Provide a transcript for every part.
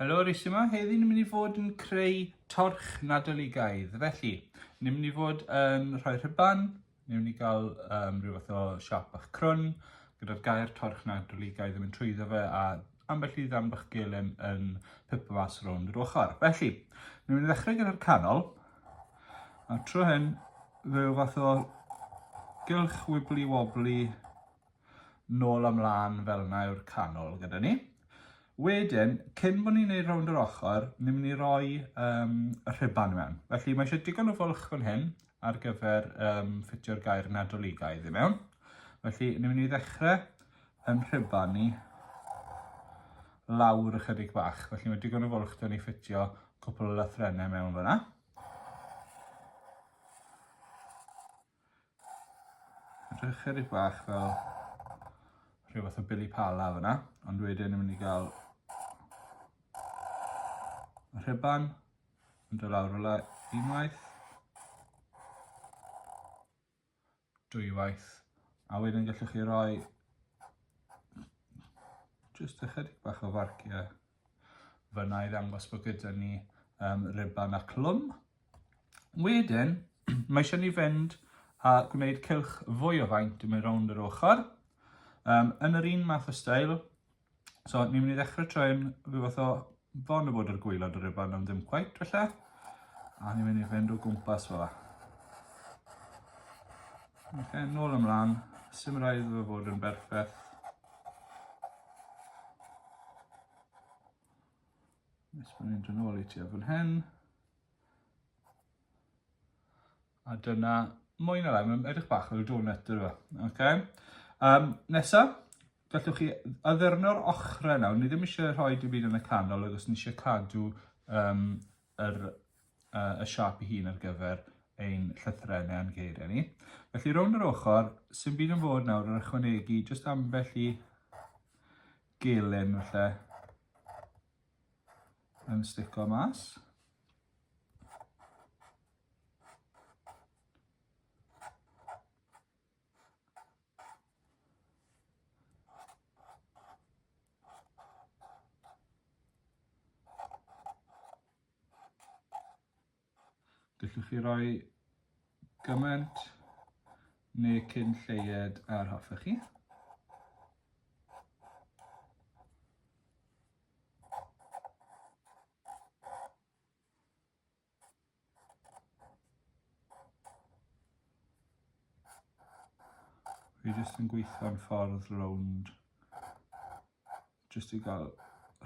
Helo Rhys yma, heddi ni'n mynd i fod yn creu torch nadoligaidd. Felly, ni'n mynd i fod yn rhoi rhyban Newn ni gael um, rhyw fath o siap bach crwn, gyda'r gair torch na drwligau ddim yn trwyddo fe, a ambell i ddan bach gelen yn pipo mas rownd yr ochr. Felly, newn ni ddechrau gyda'r canol, a tro hyn, fe yw fath o gylch wibli wobli nôl a mlân fel 'na yw'r canol gyda ni. Wedyn, cyn bod ni'n neud rownd yr ochr, ni'n mynd i roi um, y rhuban i mewn. Felly mae eisiau digon o fwlch fan hyn ar gyfer um, ffitio'r gair nadoligaidd i mewn. Felly ni'n mynd i ddechrau yn rhuban ni lawr ychydig bach. Felly mae digon o fwlch da ni ffitio cwpl o lythrenau mewn fyna. Rhoi chydig bach fel rhyw fath o bili pala fyna, ond wedyn ni'n mynd i gael rhyban yn dod lawr fel unwaith, dwywaith, a wedyn gallwch chi roi jyst ychydig bach o farciau F'yna i ddangos bod gyda ni um, riban a clwm. Wedyn, mae eisiau ni fynd a gwneud cylch fwy o faint i mynd rownd yr ochr. Um, yn yr un math o stael, so ni'n mynd i ddechrau troi'n rhyw fath o fon y bod yr gwylod o rybau am ddim cweit felly. A ni'n mynd i fynd o gwmpas fel la. Ok, nôl ymlaen, sy'n rhaid fod yn berffaith. Nes bod ni'n dod nôl i ti ar fan hyn. A dyna mwy na lai, mae'n edrych bach fel donut yr yma. Okay. Um, nesa, gallwch chi addurno'r ochrau nawr. Ni ddim eisiau rhoi dim byd yn y canol, agos ni eisiau cadw um, yr y siâp ei hun ar gyfer ein llythrennau a'n geiriau ni. Felly rownd yr ochr, sy'n byd yn fod nawr yn ychwanegu jyst ambell i gelyn falle yn stico mas. Gallwch chi roi gymaint neu cyn lleied ar hoffech chi. Fi jyst yn gweithio'n ffordd rownd jyst i gael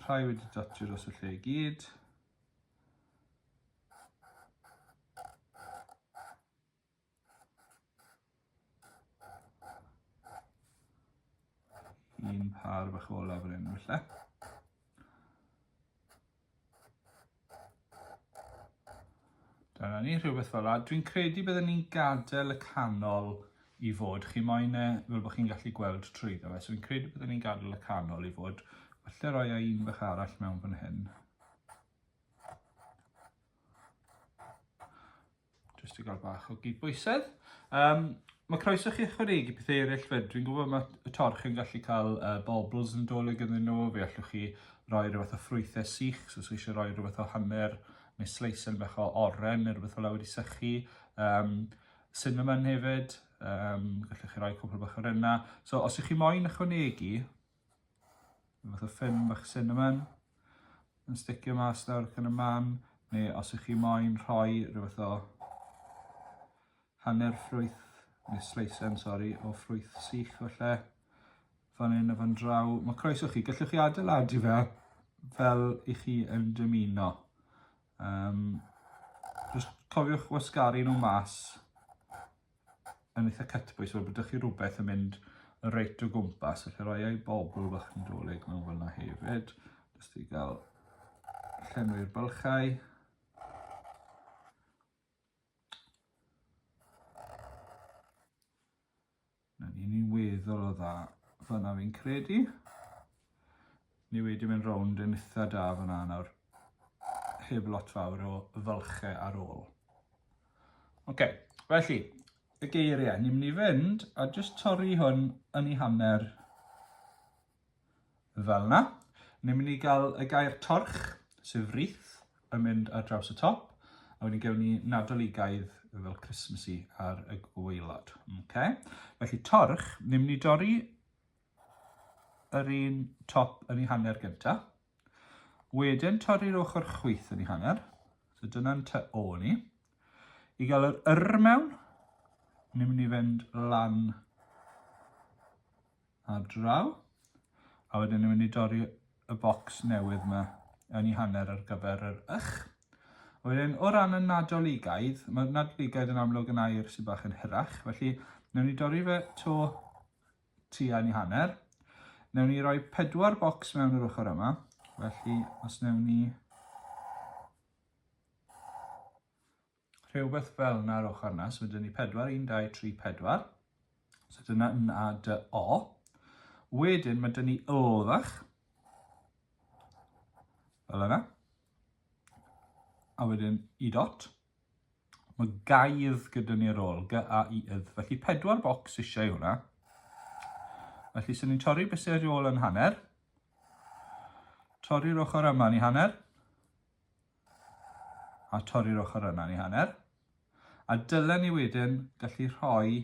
rhai wedi dotio dros y lle i gyd. Un par bach olaf yr enw lle. Dyna ni, rhywbeth fel la. Dwi'n credu byddwn ni'n gadael y canol i fod. Chi moyn e fel bod chi'n gallu gweld trwy ddo fe. So fi'n credu byddwn ni'n gadael y canol i fod. Felly roi e un bach arall mewn fan hyn. Just i gael bach o gydbwysedd. Um, mae croeso chi ychwanegu pethau eraill fyd. Dwi'n gwybod mae y torch yn gallu cael uh, bobls yn dolyg yn nhw. Fe allwch chi roi rhywbeth o ffrwythau sych, so os eisiau rhoi rhywbeth o hanner neu sleisen bach o oren neu rhywbeth o lawr i sychu. Um, cinnamon hefyd, um, gallwch chi roi cwpl bach o'r yna. So os ych chi moyn ychwanegu, Rhyw fath o ffyn bach cinnamon yn sticio mas nawr gan y man, neu os ych chi moyn rhoi rhyw fath o hanner ffrwyth, neu sleisen, sori, o ffrwyth sych falle, fan hyn a fan draw. Mae croeso chi, gallwch chi adeiladu fe fel i chi yn dymuno. Um, just cofiwch wasgaru nhw mas yn eitha cytbwys, wel bod ydych chi rhywbeth yn mynd reit o gwmpas, felly roi ei bobl bach yn dolyg mewn fel yna hefyd, jyst i gael llenwi'r bylchau. Na ni'n ni'n weddol o dda, fyna fi'n credu. Ni wedi mynd rownd yn itha da fan'na nawr. Heb lot fawr o fylche ar ôl. Oce, felly, y geiriau. Ni'n mynd i fynd a jyst torri hwn yn ei hanner fel yna. Ni'n mynd i gael y gair torch, sef wreath, yn mynd ar draws y top. A wedyn gewn ni nadoligaidd fel Christmassy ar y gwaelod. Okay? Felly torch, ni'n mynd i dorri yr un top yn ei hanner gyntaf. Wedyn torri'r ochr chwyth yn ei hanner. So dyna'n ty o ni. I gael yr yr mewn, ni'n mynd i fynd lan a draw. A wedyn ni'n mynd i dorri y bocs newydd yma yn ei hanner ar gyfer yr ych. A wedyn, o ran y nadoligaidd, mae'r nadoligaidd yn amlwg yn air sy'n bach yn hyrach, felly newn ni dorri fe to tua un i hanner. Newn ni roi pedwar bocs mewn yr ochr yma. Felly, os newn ni... Rhywbeth fel yna ar ochr yna. So, dyn ni pedwar, un, dau, tri, pedwar. So, dyna yn a dy o. Wedyn, mae dyn ni ylfach. Fel yna. A wedyn, i dot. Mae gaidd gyda ni ar ôl, g-a-i-ydd. Felly pedwar bocs eisiau i hwnna. Felly sy'n ni'n torri bysau ar ôl yn hanner. Torri'r ochr yma ni hanner. A torri'r ochr yna ni hanner. A dylen ni wedyn gallu rhoi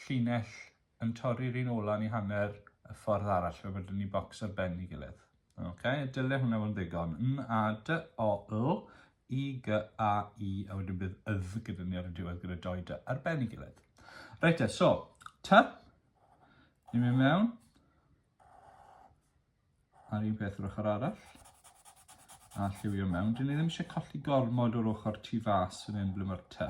llinell yn torri'r un ola ni hanner y ffordd arall fel bod ni bocs ar ben ni gilydd. Ok, dyle hwnna fod yn ddigon. N, A, D, O, L, I, G, A, I, a wedyn bydd ydd gyda ni ar y diwedd gyda doi dy ar ben i gilydd. Reit e, so, ty, ni'n mynd mewn. A'r un peth yr ochr arall. A lliwio mewn. Dyn ni ddim eisiau colli gormod o'r ochr tu fas yn un ble mae'r ty.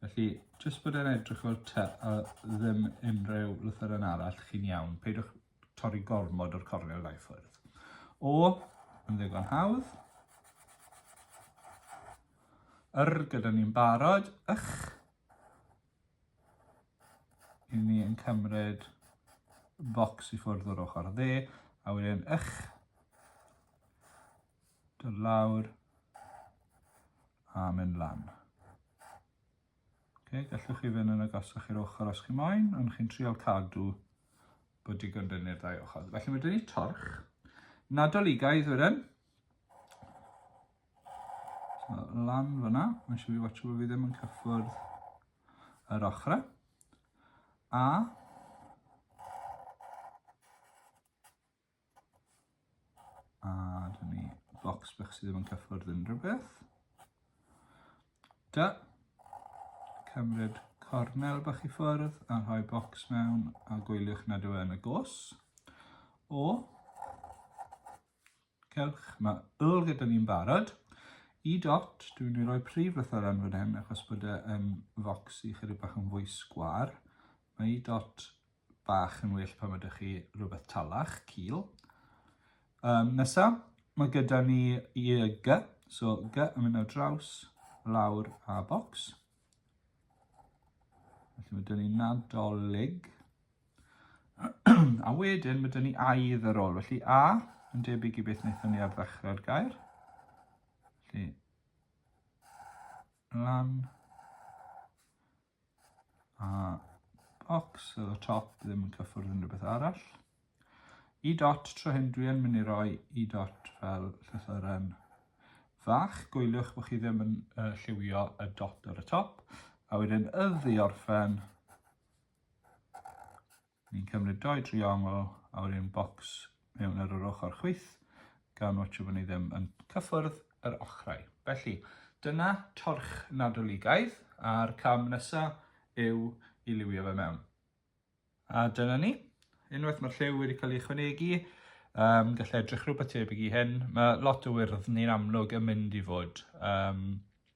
Felly, jyst bod e'n edrych o'r ty a ddim unrhyw lythyren arall chi'n iawn. Peidiwch torri gormod o'r cornel ddau ffwrdd. O, yn ddigon hawdd. Yr gyda ni'n barod. Ych. Yn ni yn cymryd bocs i ffwrdd o'r ochr dde, a wedyn ych, dod lawr, a mynd lan. Okay, gallwch chi fynd yn agosach i'r ochr os chi moyn, ond chi'n trial cadw bod digon dynn i'r ddau ochr. Felly mae dyn ni torch, nadoligaidd wedyn, So, lan fyna, mae'n siŵr i watcho bod fi ddim yn cyffwrdd yr ochrau. A a dyn ni box bach sydd ddim yn cyffwrdd unrhyw beth. Da, cymryd cornel bach i ffwrdd a rhoi box mewn a gwyliwch nad yw e yn y gos. O, Cewch, mae wl gyda ni'n barod. I dot, dwi'n mynd i roi prif lythyren fan hyn achos bod e yn focs i chydig bach yn fwy sgwar. Mae i dot bach yn well pan ydych chi rhywbeth talach, cil. Um, nesa, mae gyda ni i y gy, so gy yn mynd ar draws, lawr a bocs. Felly mae dyn ni nadolig. a wedyn mae dyn ni aidd ar ôl. Felly a, yn debyg i beth wnaethon ni ar ddechrau'r gair. Felly, lan, a box at y top ddim yn cyffwrdd unrhyw beth arall. I e dot tro hyn dwi yn mynd i roi i e dot fel llythyren fach. Gwyliwch bod chi ddim yn uh, lliwio y dot ar y top. A wedyn y ddiorffen Ni'n cymryd doi driongl a wedyn bocs mewn ar yr ochr chwith gan watsio bod ni ddim yn cyffwrdd yr ochrau. Felly, dyna torch Nadoligaidd a'r cam nesa yw i liwio fe mewn. A dyna ni. Unwaith mae'r lliw wedi cael ei ychwanegu, um, gallai edrych rhywbeth tebyg i hyn. Mae lot o wyrdd ni'n amlwg yn mynd i fod um,